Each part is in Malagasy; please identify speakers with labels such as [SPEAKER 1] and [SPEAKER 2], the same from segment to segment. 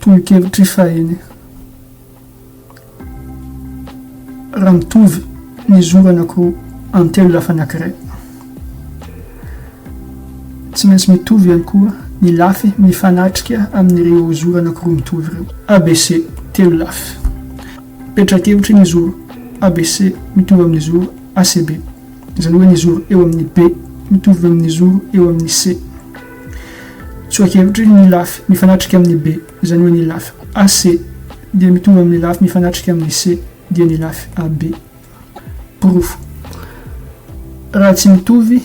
[SPEAKER 1] Tolo-kevitry fahiny, Raha mitovy ny zoranako an-telo lafa anankiray, tsy maintsy mitovy ihany koa ny lafy mifanatrika amin'ireo zoranako roa mitovy ireo. ABC, Telo lafy. Petra-kevitry ny zoro ABC mitovy amin'ny zoro ACB. izany hoe ny zoro eo amin'ny be mitovy amin'ny zoro eo amin'ny c. Tsoa-kevitry ny lafy mifanatrika amin'ny be, izany hoe ny lafy AC dia mitovy amin'ny lafy mifanatrika amin'ny C dia ny lafy AB. Porofo. Raha tsy mitovy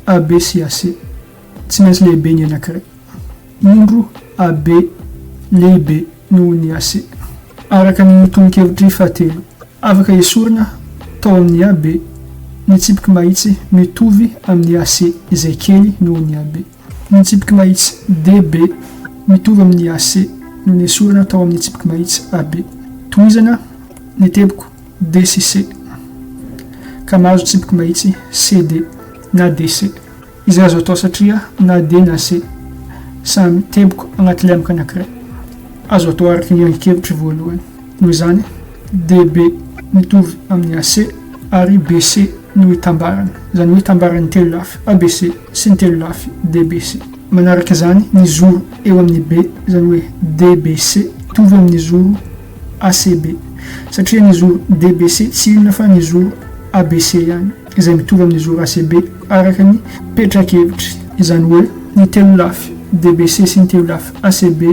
[SPEAKER 1] AB sy AC, tsy maintsy lehibe ny anankiray. Indro AB lehibe. noho ny AC. Araka ny tononkevitry fahatelo, afaka esorina tao amin'ny AB ny tsipiky mahitsy mitovy amin'ny AC izay kely noho ny AB. Ny tsipiky mahitsy DB mitovy amin'ny AC no nesorina tao amin'ny tsipiky mahitsy AB. Tohizana ny teboka D sy C ka mahazo tsipiky mahitsy CD na DC. Izay azo atao satria na dia na se samy teboka anaty lemaka anankiray. Azo atao araka ny angi-kevitry voalohany. Noho izany, DB mitovy amin'ny AC ary BC no itambarany, izany hoe itambaran'ny telo lafy ABC sy ny telo lafy DBC. Manaraka izany ny zoro eo amin'ny B, izany hoe DBC mitovy amin'ny zoro ACB, satria ny zoro DBC tsy inona fa ny zoro ABC ihany. izay mitovy amin'ny zo RACB araka ny petra-kevitry. Izany hoe, ny telo lafy DBC sy ny telo lafy ACB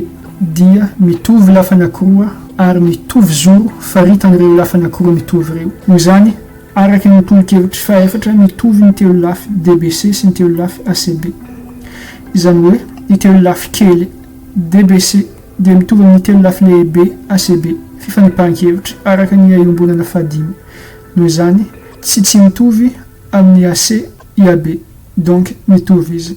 [SPEAKER 1] dia mitovy lafy anankiroa ary mitovy zoro faritan'ireo lafy anankiroa mitovy ireo. Noho izany, araka ny tolo-kevitry fahefatra, mitovy ny telo lafy DBC sy ny telo lafy ACB. Izany hoe, ny telo lafy kely DBC dia mitovy amin'ny telo lafy lehibe ACB. Fifanipahan-kevitry araka ny iombonana fahadimy. Noho izany tsy tsy mitovy amin'ny AC IAB. Donc mitovy izy.